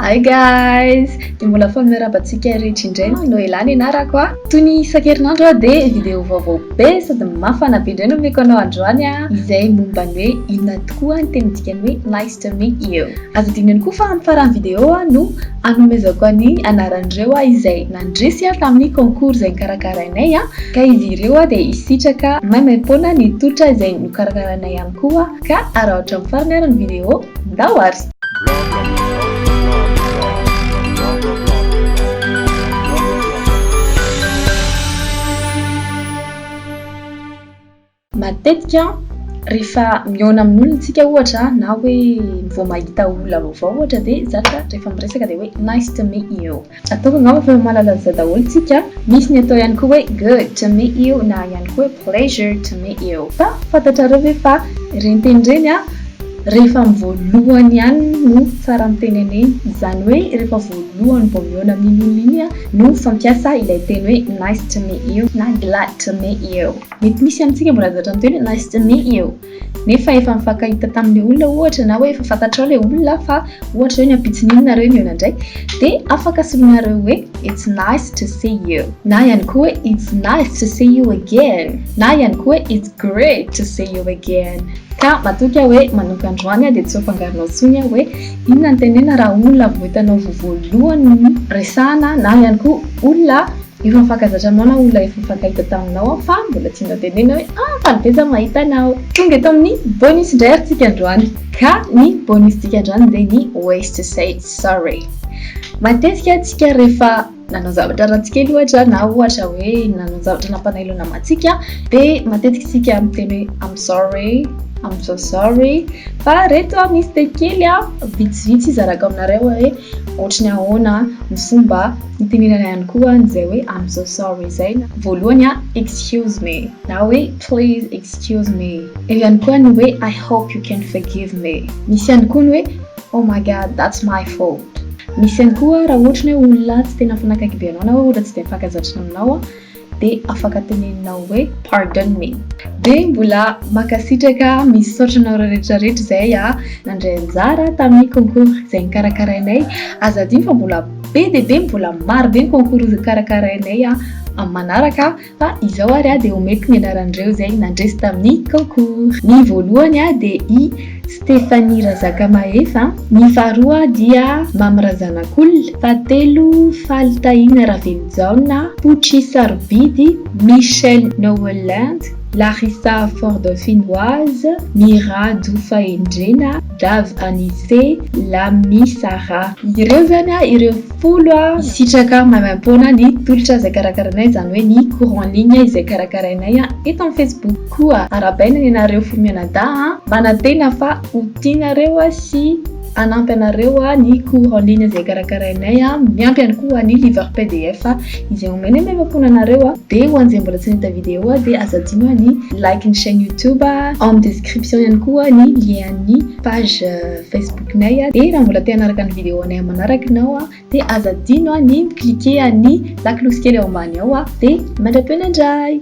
Hi guys! Dia mbola foana miarahaba antsika rehetra indray ny Noela ny anarako a! Toy ny isan-kerinandro a dia vidéo vaovao be sady mafana be indray no omeko anao androany a! Izay momba ny hoe inona tokoa ny teny dikany hoe Nice to meet you. Aza adino ihany koa fa amin'ny faran'ny vidéo a no anomezako an'i anaran'ireo a izay nandresy a tamin'ny concours izay nikarakarainay a! Ka izy ireo a dia hisitraka maimaimpoana ny totra izay nokarakarainay ihany koa ka araotra amin'ny farany ary ny vidéo ndao ary! Matetika rehefa mihaona amin'olona tsika ohatra na hoe vao mahita olona vaovao ohatra dia zatra rehefa miresaka dia hoe nice to meet you. Ataovy angamba fa mahalala an'izay daholo tsika a! Misy ny atao ihany koa hoe good to meet you na ihany koa hoe pleasure to meet you. Fa fantatrareo ve fa ireny teny ireny a, rehefa amin'ny voalohany ihany no tsara ny tenenena. Izany hoe rehefa voalohany vao mihaona amin'iny olona iny a, no fampiasa ilay teny hoe nice to meet you na glad to meet you. Mety misy amintsika mbola zatra miteny hoe nice to meet you. nefa efa mifankahita tamin'ilay olona ohatra na hoe efa fantatrao ilay olona fa ohatra hoe ny ampitson'iny nareo nihaona indray dia afaka soloinareo hoe it's nice to see you na ihany koa hoe it's nice to see you again na ihany koa hoe it's great to see you again ka matoky aho hoe manomboka androany dia tsy ho fangaronao tsony aho hoe inona ny tenena raha olona vao hitanao voalohany resahana na ihany koa olona Efa mifankazatra anao na olona efa nifankahita taminao aho fa mbola tsy notenenina hoe ah faly be za mahita anao. Tonga eto amin'ny bonus indray ary tsika androany ka ny bonus tsika androany dia ny ways to say sorry. Matetika tsika rehefa nanao zavatra ratsy kely ohatra na ohatra hoe nanao zavatra nampanailo namantsika dia matetika tsika miteny hoe I'm sorry, I'm so sorry fa reto misy teny kely vitsivitsy hizarako aminareo hoe ohatry ny ahoana ny fomba Itenenana ihany koa an'izay hoe I'm so sorry izay na voalohany a excuse me na hoe please excuse me. Eo ihany koa ny hoe I hope you can forgive me. Misy ihany koa ny hoe oh my God that's my fault. Misy ihany koa raha ohatra ny hoe olona tsy tena mifanakaiky be anao na hoe olona tsy dia mifankazatrina aminao a. dia afaka teneninao hoe pardon me. Dia mbola mankasitraka, misaotra anareo rehetra rehetra izay nandray anjara tamin'ny concours izay nokarakarainay. Aza adino fa mbola be dia be, mbola maro be ny concours hokarakarainay amin'ny manaraka fa izao ary dia omeko ny anaran'ireo izay nandresy tamin'ny concours. Ny voalohany dia i Stephanie Razakamahefa, ny faharoa dia Mamy Razanakolona, fahatelo Faly Tahina Ravelojaona, Pochi Sarobidy, Michel Noelland, Larissa Fordauphinoise, Mirado Fahendrena, Dave Anise, Lamy Sarah. Ireo izany ireo folo hisitraka maimaimpoana ny tolotra izay karakarainay, izany hoe ny cours en ligne izay karakarainay eto amin'ny Facebook. Koa arabaina ny anareo fo mianadahy a! Manantena fa ho tianareo sy hanampy anareo ny cours en ligne izay karakarainay, miampy ihany koa ny livre pdf izay omenay nefa fona anareo, dia ho an'izay mbola tsy nahita video dia aza adino ny like ny chaine youtube, ao amin'ny description ihany koa ny lien an'ny page facebook-nay, dia raha mbola te hanaraka ny video anay manaraka ianao. Dia aza adino an ny mi-cliquer an ny lakolosy kely ao ambany ao an! Dia mandra-peo nandray!